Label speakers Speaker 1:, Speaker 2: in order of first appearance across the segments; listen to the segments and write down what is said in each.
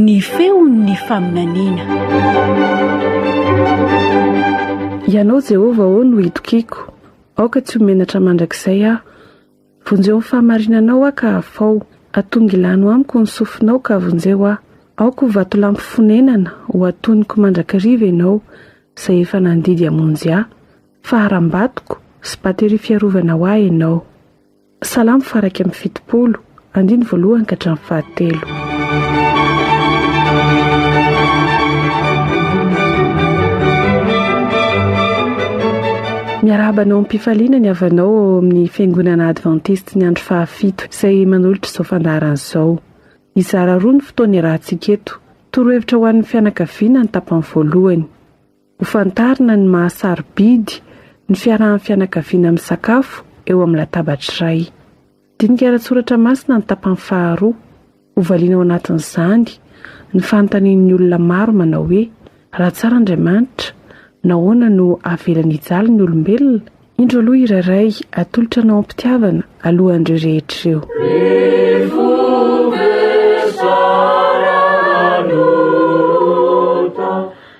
Speaker 1: Ny feon'ny faminaniana.
Speaker 2: Ianao Jehovah ô no itokiako, aoka tsy ho menatra mandrakizay aho. Vonjeo ny fahamarinanao aho ka hafao, atongilano amiko ny sofinao ka vonjeo aho. Aoka ho vatolampy fonenana, ho atonoko mandrakariva ianao, izay efa nandidy hamonjy ahy. Faharam-batoko sy bateria fiarovana ho ahy ianao. Salamo faha iraika amby fitopolo, andiny voalohany ka hatramin'ny fahatelo. Miarahaba anao am-pifaliana ny havanao ao amin'ny Fiangonana Adventiste ny andro fahafito izay manolotra izao fandaharana izao. Hizara roa ny fotoana iarahantsika eto. Torohevitra ho an'ny fianakaviana ny tapany voalohany. Ho fantarina ny maha sarobidy ny fiarahan'ny fianakaviana misakafo eo amin'ny latabatra iray. Dinika ara-tsoratra masina ny tapany faharoa. Hovaliana ao anatin'izany ny fanontanian'ny olona maro manao hoe, Raha tsara Andriamanitra, nahoana no avelany hijaly ny olombelona? Indro aloha hira iray atolotra anao am-pitiavana alohan'ireo rehetra ireo.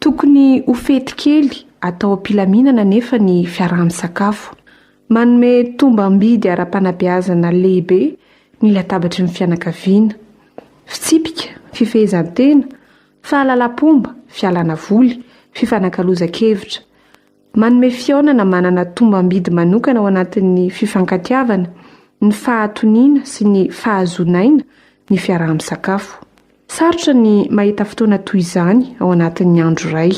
Speaker 2: Tokony ho fety kely atao am-pilaminana anefa ny fiaraha-misakafo. Manome tombam-bidy ara-panabeazana lehibe ny latabatry ny fianakaviana. Fitsipika, fifehezan-tena, fahalalam-pomba, fialana voly, fifanakalozan-kevitra. Manome fihaonana manana tombam-bidy manokana ao anatin'ny fifankatiavana, ny fahatoniana sy ny fahazoana aina ny fiaraha-misakafo. Sarotra ny mahita fotoana toy izany ao anatin'ny andro iray.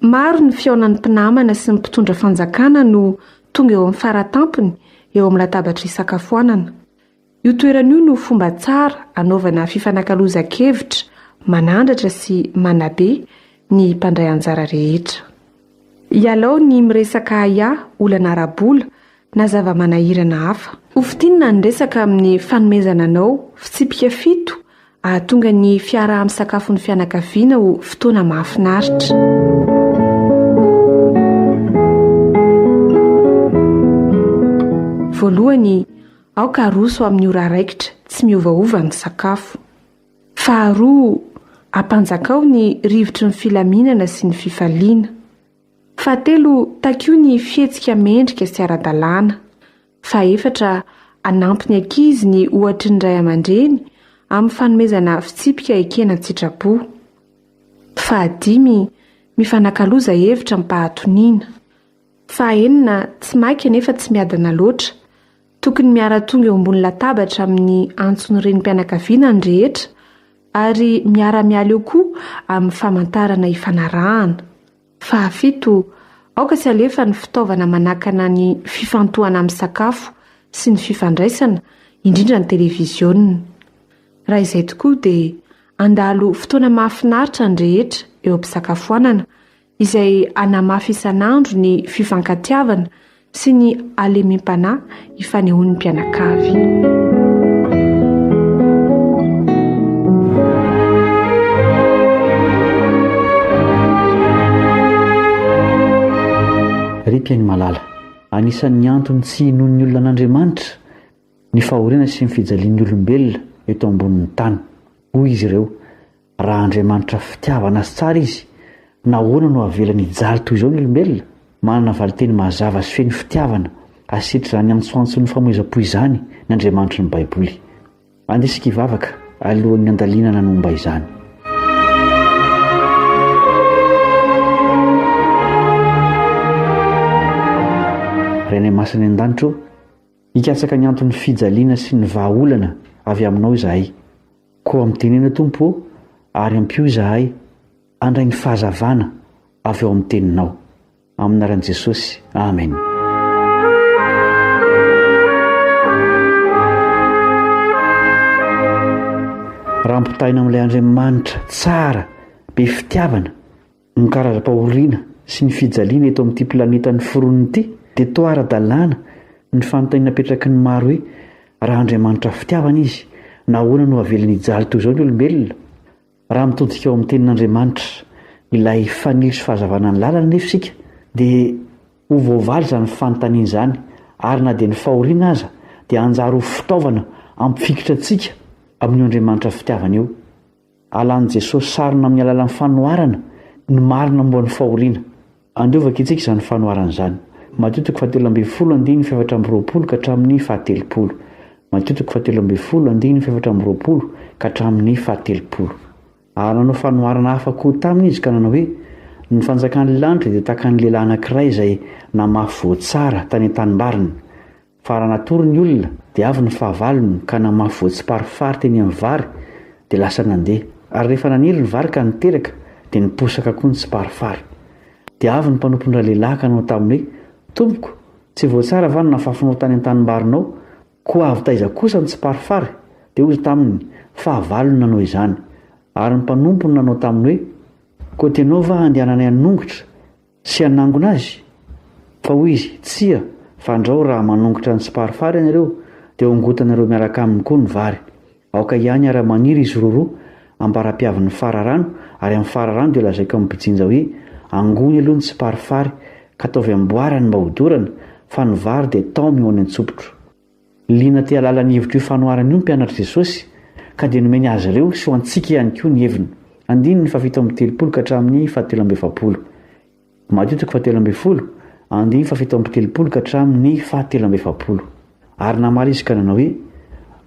Speaker 2: Maro ny fihaonan'ny mpinamana sy ny mpitondra fanjakana no tonga eo amin'ny faratampony eo amin'ny latabatra isakafoanana. Io toerana io no fomba tsara anaovana fifanakalozan-kevitra manandratra sy manabe ny mpandray anjara rehetra. Ialao ny miresaka ahiahy, olana ara-bola, na zava-manahirana hafa. Ho fintinina ny resaka amin'ny fanomezana anao fitsipika fito hahatonga ny fiaraha-misakafon'ny fianakaviana ho fotoana mahafinaritra. Voalohany, aoka haroso amin'ny ora raikitra tsy miovaova ny sakafo. Faharoa, ampanjakao ny rivotry ny filaminana sy ny fifaliana. Fahatelo, takio ny fihetsika mendrika sy ara-dalàna. Fahefatra, anampy ny ankizy ny ohatry ny ray aman-dreny amin'ny fanomezana fitsipika ekena an-tsitrapo. Fahadimy, mifanakaloza hevitra am-pahatoniana. Fahaenina, tsy maika nefa tsy miadana loatra. Tokony miara-tonga eo ambony latabatra amin'ny antson'ny renim-pianakaviana ny rehetra ary miara-miala eo koa amin'ny famantarana ifanarahana. Fahafito, aoka tsy alefa ny fitaovana manakana ny fifantohana amin'ny sakafo sy ny fifandraisana, indrindra ny televiziona. Raha izay tokoa dia handalo fotoana mahafinaritra ny rehetra eo am-pisakafoanana, izay hanamafy isan'andro ny fifankatiavana sy ny halemem-panahy ifanehoan'ny mpianakavy.
Speaker 3: Mpiaino Malala. Anisan'ny antony tsy hinoan'ny olona an'Andriamanitra ny fahoriana sy ny fijalian'ny olombelona eto ambonin'ny tany, hoy izy ireo. Raha Andriamanitra fitiavana sy tsara Izy, nahoana no avelany hijaly toy izao ny olombelona? Manana valinteny mazava sy feno fitiavana hasitritra izany antsoantson'ny famoizam-po izany ny Andriamanitry ny Baiboly. Andeha isika hivavaka alohan'ny handalinana ny momba izany. Rainay Masina any an-danitra ô, hikatsaka ny anton'ny fijaliana sy ny vahaolana avy Aminao izahay. Koa mitenena Tompo ô, ary ampio izahay handray ny fahazavana avy ao amin'ny Teninao. Amin'ny anaran'i Jesosy, amena. Raha ampitahaina amin'ilay Andriamanitra tsara, be fitiavana, Ny karazam-pahoriana sy ny fijaliana eto amin'ity planeta noforonina ity dia toa ara-dalàna ny fanontaniana apetraky ny maro hoe, raha Andriamanitra fitiavana Izy, nahoana no aveliny hijaly toy izao ny olombelona? Raha mitodika ao amin'ny Tenin'Andriamanitra, ilay fanilo sy fahazavana ny lalany anefa isika, dia ho voavaly izany fanontaniana izany, ary na dia ny fahoriana aza dia hanjary ho fitaovana hampifikitra antsika amin'io Andriamanitra fitiavana io. Alan'i Jesosy sarona amin'ny alalan'ny fanoharana ny marina momba ny fahoriana. Andevo vakintsika izany fanoharana izany. Matio toko fahatelo ambin'ny folo andininy fahefatra amby roapolo ka hatramin'ny fahatelopolo. Matio toko fahatelo ambin'ny folo andininy fahefatra amby roapolo ka hatramin'ny fahatelopolo. Ary nanao fanoharana hafa koa taminy izy ka nanao hoe, Ny fanjakan'ny lanitra dia tahaka ny lehilahy anankiray izay namafy voa tsara tany an-tanimbariny. Fa raha natory ny olona, dia avy ny fahavalony, ka namafy voatsiparifary teny amin'ny vary, dia lasa nandeha. Ary rehefa naniry ny vary ka niteraka, dia niposaka koa ny tsiparifary. Dia avy ny mpanompon-dralehilahy ka nanao taminy hoe, Tompoko, tsy voatsara va ny nafafinao tany an-tanimbarinao? Koa avy taiza kosa ny tsiparifary? Dia hoy izy taminy, Fahavalony nanao izany. Ary ny mpanompony nanao taminy hoe, Koa tianao va handehananay hanongotra? Sy hanangona azy? Fa hoy izy, Tsia, fandrao raha manongotra ny tsiparifary ianareo, dia hongotanareo miaraka aminy koa ny vary. Aoka hiany ary hamaniry izy roroa, ambara-piavin'ny fararano, ary amin'ny fararano dia lazaiko amin'ny mpijinja hoe, Angony aloha ny tsiparifary, ka ataovy amboara ny mba hodorana, fa ny vary dia taomy ho any an-tsopitro. Liana te hahalala ny hevitr'io fanoharana io ny mpianatr'i Jesosy, ka dia nomeny azy ireo sy ho antsika ihany koa ny heviny. Andininy fahafito amby telopolo ka hatramin'ny fahatelo amby efapolo. Matio toko fahatelo ambin'ny folo, andininy fahafito amby telopolo ka hatramin'ny fahatelo amby efapolo. Ary namaly izy ka nanao hoe,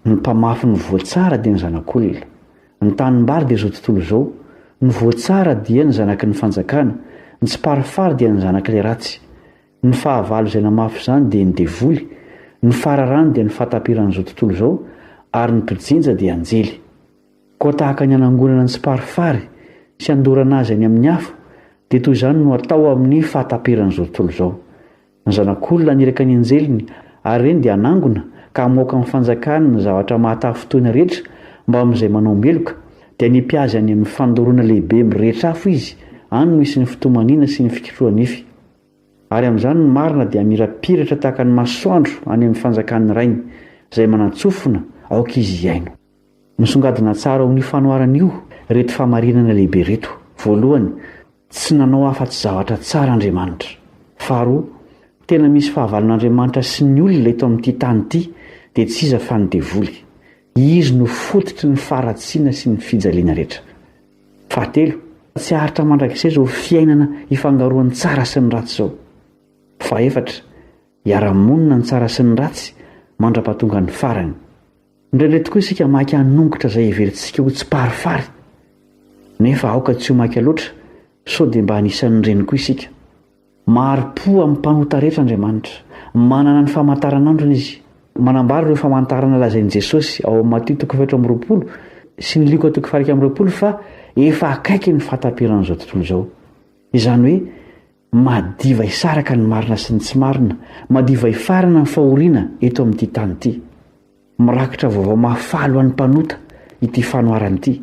Speaker 3: Ny mpamafy ny voa tsara dia ny Zanak'olona. Ny tanimbary dia izao tontolo izao. Ny voa tsara dia ny zanaky ny fanjakana. Ny tsiparifary dia ny zanak'ilay ratsy. Ny fahavalo izay namafy izany dia ny devoly, ny fararano dia ny fahatapiran'izao tontolo izao ary ny mpijenja dia anjely. Koa tahaka ny hanangonana ny tsiparifary sy handorana azy any amin'ny afo dia toy izany no atao amin'ny fahatapiran'izao tontolo izao. Ny zanak'olona haniraka ny anjeliny ary ireny dia hanangona ka hamoaka amin'ny fanjakany ny zavatra mahatafintohina rehetra mba amin'izay manao meloka dia hanipy azy any amin'ny fandoroana lehibe mirehitra afo izy, any no hisy ny fitomaniana sy ny fikitroha-nify. Ary amin'izany ny marina dia hamirapiratra tahaka ny masoandro any amin'ny fanjakan'ny Rainy, izay manan-tsofina aoka Izy hihaino. Misongadina tsara ao amin'io fanoharana io ireto fahamarinana lehibe ireto, voalohany, tsy nanao afa-tsy zavatra tsara Andriamanitra. Faharoa, tena misy fahavalon'Andriamanitra sy ny olona eto amin'ity tany ity, dia tsy iza fa ny devoly. Izy no fototry ny faharatsiana sy ny fijaliana rehetra. Fahatelo, tsy haharitra mandrakizay izao fiainana ifangaroan'ny tsara sy ny ratsy izao. Fahefatra, hiara-monina ny tsara sy ny ratsy mandra-pahatongan'ny farany. Indraindray tokoa isika maika hanongotra izay heverintsika ho tsiparifary. Nefa aoka tsy ho maika loatra sao dia mba anisan'ireny koa isika. Mahari-po amin'ny mpanota rehetra Andriamanitra. Manana ny famantaranandrony Izy. Manambara ireo famantarana lazain'i Jesosy ao amin'ny Matio toko fahefatra amby roapolo sy ny Lioka toko fahairika amby roapolo fa efa akaiky ny fahataperan'izao tontolo izao. Izany hoe madiva hisaraka ny marina sy ny tsy marina, madiva hifarana ny fahoriana eto amin'ity tany ity. Mirakitra vaovao mahafaly ho an'ny mpanota ity fanoharana ity.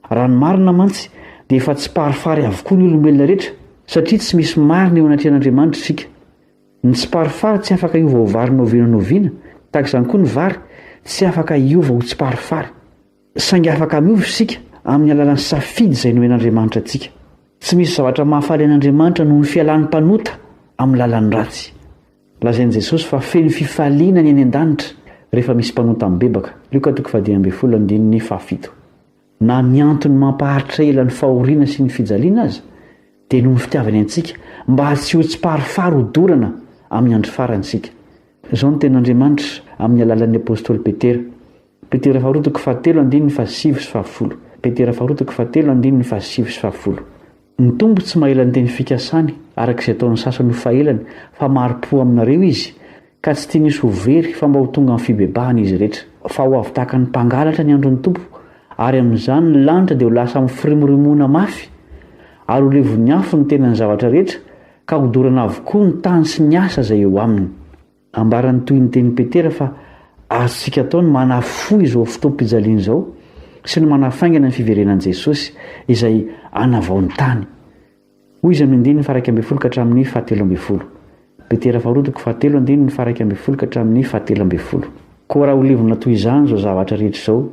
Speaker 3: Raha ny marina mantsy, dia efa tsiparifary avokoa ny olombelona rehetra, satria tsy misy marina eo anatrehan'Andriamanitra isika. Ny tsiparifary tsy afaka hiova ho vary noviana noviana, tahaka izany koa ny vary tsy afaka hiova ho tsiparifary. Saingy afaka hanova isika amin'ny alalan'ny safidy izay nomen'Andriamanitra antsika. Tsy misy zavatra mahafaly an'Andriamanitra noho ny fialan'ny mpanota amin'ny lalan'ny ratsy. Lazain'i Jesosy fa feno fifaliana ny any an-danitra rehefa misy mpanota mibebaka, Lioka toko fahadimy ambin'ny folo andininy fahafito. Na ny antony mampaharitra ela ny fahoriana sy ny fijaliana aza dia noho ny fitiavany antsika mba tsy ho tsiparifary ho dorana amin'ny andro farany isika. Izao no tenin'Andriamanitra amin'ny alalan'ny apostoly Petera. Petera faharoa toko fahatelo andininy fahasivy sy fahafolo Petera faharoa toko fahatelo andininy fahasivy sy fahafolo Ny Tompo tsy maela ny teny fikasany, araka izay ataon'ny sasany ho fahelany, fa mari-po aminareo Izy, ka tsy tiany hisy ho very, fa mba ho tonga amin'ny fibebahana izy rehetra. Fa ho avy tahaka ny mpangalatra ny andron'ny Tompo, ary amin'izany ny lanitra dia ho lasa amin'ny firimorimoana mafy, ary ho levon'ny afo ny tenan'ny zavatra rehetra, ka hodorana avokoa ny tany sy ny asa izay eo aminy. Ambaran'ny tohin'ny tenin'i Petera fa azontsika atao ny manafohy izao fotoam-pijaliana izao sy ny manafaingana ny fiverenan'i Jesosy izay hanavao ny tany. Hoy izy amin'ny andininy faha-iraika ambin'ny folo ka hatramin'ny fahatelo ambin'ny folo. Petera faharoa toko fahatelo andininy faha-iraika ambin'ny folo ka hatramin'ny fahatelo ambin'ny folo. Koa raha ho levona toy izany izao zavatra rehetra izao,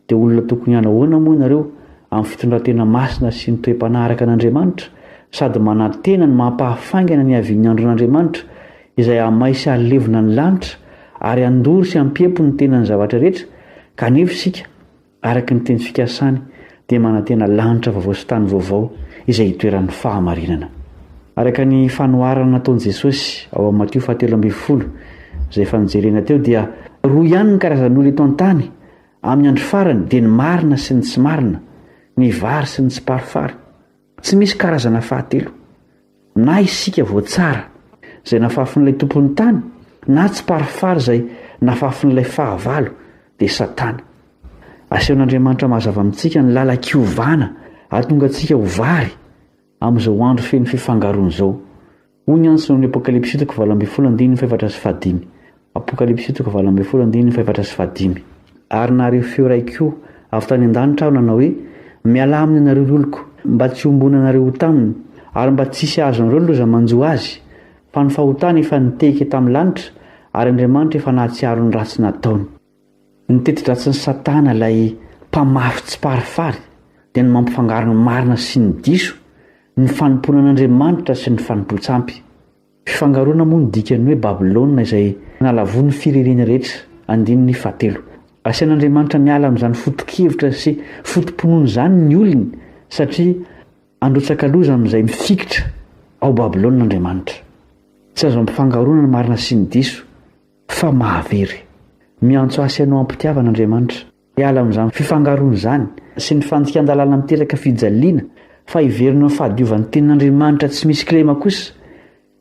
Speaker 3: Dia olona tokony hanahoana moa ianareo amin'ny fitondran-tena masina sy ny toe-panahy araka an'Andriamanitra, sady manantena ny maha-pahafaingana ny havian'ny andron'Andriamanitra, izay hamay sy halevona ny lanitra, ary handoro sy hampiempo ny tenan'ny zavatra rehetra, kanefa isika, araka ny teny fikasany, dia manantena lanitra vaovao sy tany vaovao, izay hitoeran'ny fahamarinana. Araka ny fanoharana nataon'i Jesosy ao amin'ny Matio fahatelo ambin'ny folo, izay efa nojerena teo, dia roa ihany ny karazan'olona eto an-tany, Amin'ny andro farany dia ny marina sy ny tsy marina, ny vary sy ny tsiparifary. Tsy misy karazana fahatelo. Na isika voatsara izay nafafin'ilay tompon'ny tany na tsiparifary izay nafafin'ilay fahavalo dia Satana. Asehon'Andriamanitra mazava amintsika ny lalan-kiovana hahatonga antsika ho vary amin'izao andro feno fifangaroana izao. Hoy ny antso ao amin'ny Apokalypsy toko valo ambin'ny folo andininy fahefatra sy fahadimy. Apokalypsy toko valo ambin'ny folo andininy fahefatra sy fahadimy. Ary nahare feo iray koa avy tany an-danitra aho nanao hoe, Mialà aminy ianareo ry oloko, mba tsy hiombonanareo ho taminy, ary mba tsy hisy hahazonareo ny loza manjo azy, fa ny fahotany efa nitehika tamin'ny lanitra, ary Andriamanitra efa nahatsiaro ny ratsy nataony. Ny teti-dratsin'i Satana ilay mpamafy tsiparifary dia ny mampifangaro ny marina sy ny diso, ny fanompoana an'Andriamanitra sy ny fanompoan-tsampy. Fifangaroana moa no dikan'ny hoe Babylona izay nalavoin'ny fiririany rehetra, andininy fahatelo. Asian'Andriamanitra miala amin'izany foto-kevitra sy foto-pinoana izany ny olony satria handrotsaka loza amin'izay mifikitra ao Babylona Andriamanitra. Tsy azo ampifangaroana ny marina sy ny diso. fa mahavery. Miantso ahy sy anao am-pitiavana Andriamanitra, hiala amin'izany fifangaroana izany sy ny fandikan-dalàna miteraka fijaliana fa hiverina amin'ny fahadiovan'ny tenin'Andriamanitra tsy misy kilema kosa,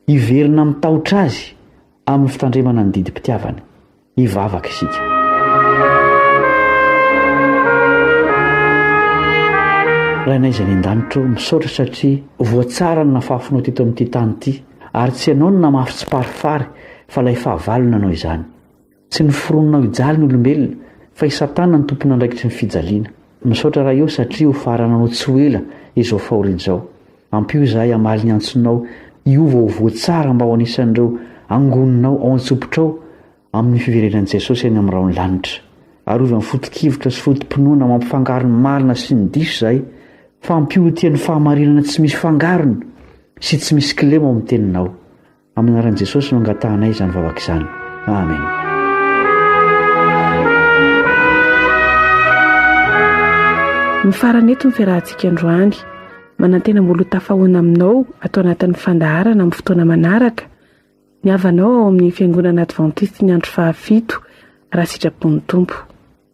Speaker 3: hiverina amin'ny tahotra Azy amin'ny fitandremana ny didim-pitiavany. Hivavaka isika. Rainay izay any an-danitra ô, misaotra satria voatsaran'ny nafafinao teto amin'ity tany ity. Ary tsy ianao no namafy tsiparifary fa ilay fahavalo nanao izany. Tsy ny foroninao hijaly ny olombelona fa i Satana no tompon'andraikitry ny fijaliana. Misaotra Ray o satria ho farananao tsy ho ela izao fahoriana izao. Ampio izahay hamaly ny antsonao hiova ho voa tsara mba ho anisan'ireo angoninao ao an-tsopitrao amin'ny fiverenan'i Jesosy any amin'ny rahon'ny lanitra. Arovany foto-kevitra sy foto-pinoana mampifangaro ny marina sy ny diso izahay, fa ampihotia ny fahamarinana tsy misy fangarony sy tsy misy kilema ao amin'ny teninao. Amin'ny anaran'i Jesosy no angatahanay izany vavaka izany. Amen.
Speaker 2: Mifarana eto ny fiarahantsika androany. Manantena mbola ho tafahoana aminao ato anatin'ny fandaharana amin'ny fotoana manaraka. Ny havanao ao amin'ny Fiangonana Advantiste ny andro fahafito, raha sitrapon'ny Tompo.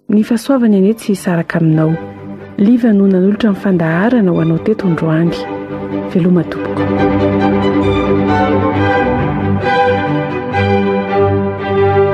Speaker 2: Ny fahasoavany anie tsy hisaraka aminao. Liva no nanolotra ny fandaharana ho anao teto androany. Veloma tompoko.